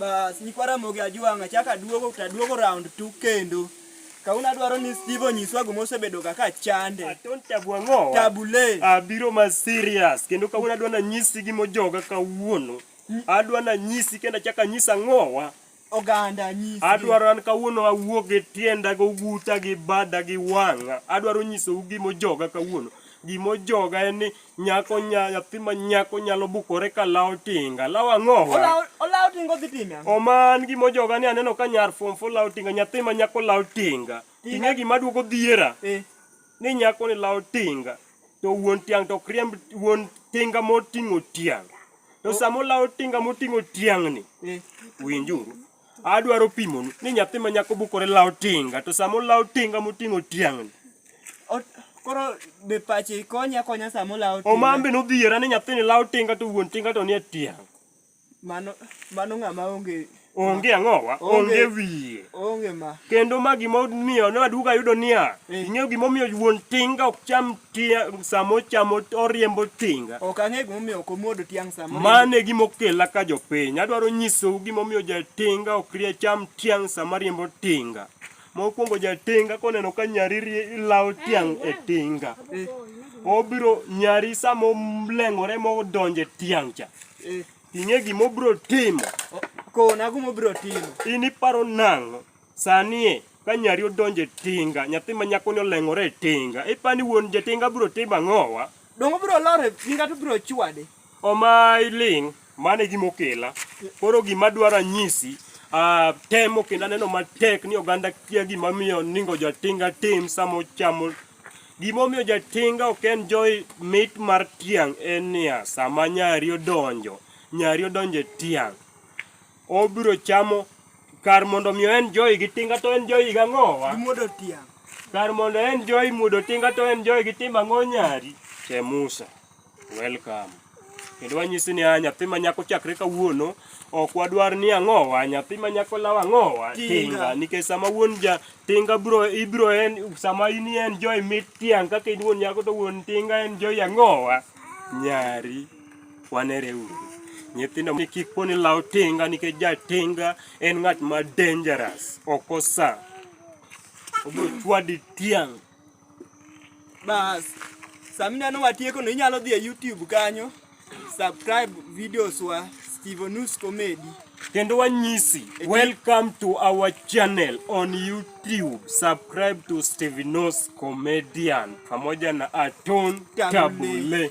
Bas, nyikwa Ramogi Ajwang' achako aduogo to aduogo round two kendo. Kawuono adwaro ni Steve onyiswa gima osebedoga ka chande. Aton tabu ang'owa. Tabule. Abiro ma serious kendo kawuono adwa nanyisi gima ojoga kawuono. Adwa nanyisi kendo achako anyisi ang'owa. Oganda nyisi. Adwaro an kawuono awuog e tienda gi oguta gi bada gi wang'a. Adwaro nyisou gima ojoga kawuono. Gima ojoga en ni Nyako nya nyathi ma nyako nyalo bukore ka lawo tinga. Lawo ang'o? Olawo olawo tingo dhi time ang'o? Oman gima ojoga ni aneno ka nyar form four lawo tinga, nyathi ma nyako lawo tinga. Tinga gima duogo dhiera Eh. ni nyako ni lawo tinga to wuon tiang' to ok riemb wuon tinga moting'o tiang'. To sama olawo tinga moting'o tiang'ni, Eh. winjuru, Adwaro pimonu ni nyathi ma nyako bukore lawo tinga to sama olawo tinga moting'o tiang'ni. Koro be pache konya konya sama olawo tinga. Omambe nodhiera ni nyathini lawo tinga to wuon tinga to nie tiang'. Mano mano ng'ama onge onge ang'owa onge wiye onge ma kendo ma gimomiyo ne waduga yudo niya eh. ing'eyo gimomiyo wuon tinga ok cham tiang' sama ochamo oriembo tinga ok ang'e gimomiyo ok omuodo tiang' sama mane gimokela ka jopiny adwaro nyisou gimomiyo jatinga ok rie cham tiang' sama riembo tinga mokwongo jatinga koneno ka nyari lawo tiang' e tinga eh. obiro nyari sama oleng'ore modonje tiang' cha eh. ing'e gimobiro timo kona gimobiro timo in iparo nang'o Sanie, ka nyari odonjo e tinga, nyathi ma nyakoni oleng'ore e tinga, ipani wuon jatinga biro timo ang'owa? Dongo biro lor e tinga to biro chwade. Omayi ling', mano e gima okela. Koro gima adwaro anyisi, ah, temo kendo aneno matek ni oganda kia gima miyo ningo jatinga tim sama ochamo. Gima omiyo jatinga ok enjoy mit mar tiang' en niya, sama nyari odonjo, nyari odonjo e tiang'. Obiro chamo kar mondo mi en joy gi tinga to en joy ga ngowa. Muodo tiang. Kar mondo en joy muodo tinga to en joy gi timba ngo nyari. Che Musa. Welcome. Kendo wanyisi ni a nyathi ma nyako chakre kawuono ok wadwar ni ang'owa nyathi ma nyako law ang'owa tinga nikech sama wuon ja tinga bro ibro en sama in en joy mit tiang' kaka in wuon nyako to wuon tinga en joy ang'owa nyari Wanere uru. Nyithindo ni kik poni law tinga nikech ja tinga en ng'at ma dangerous. Ok osa. Obo chwadi tiang'. Bas. Samina no watieko no inyalo dhi e YouTube kanyo. Subscribe videos wa Steven News Comedy. Kendo wanyisi, welcome to our channel on YouTube. Subscribe to Stevenos Comedian pamoja na Aton Tabule.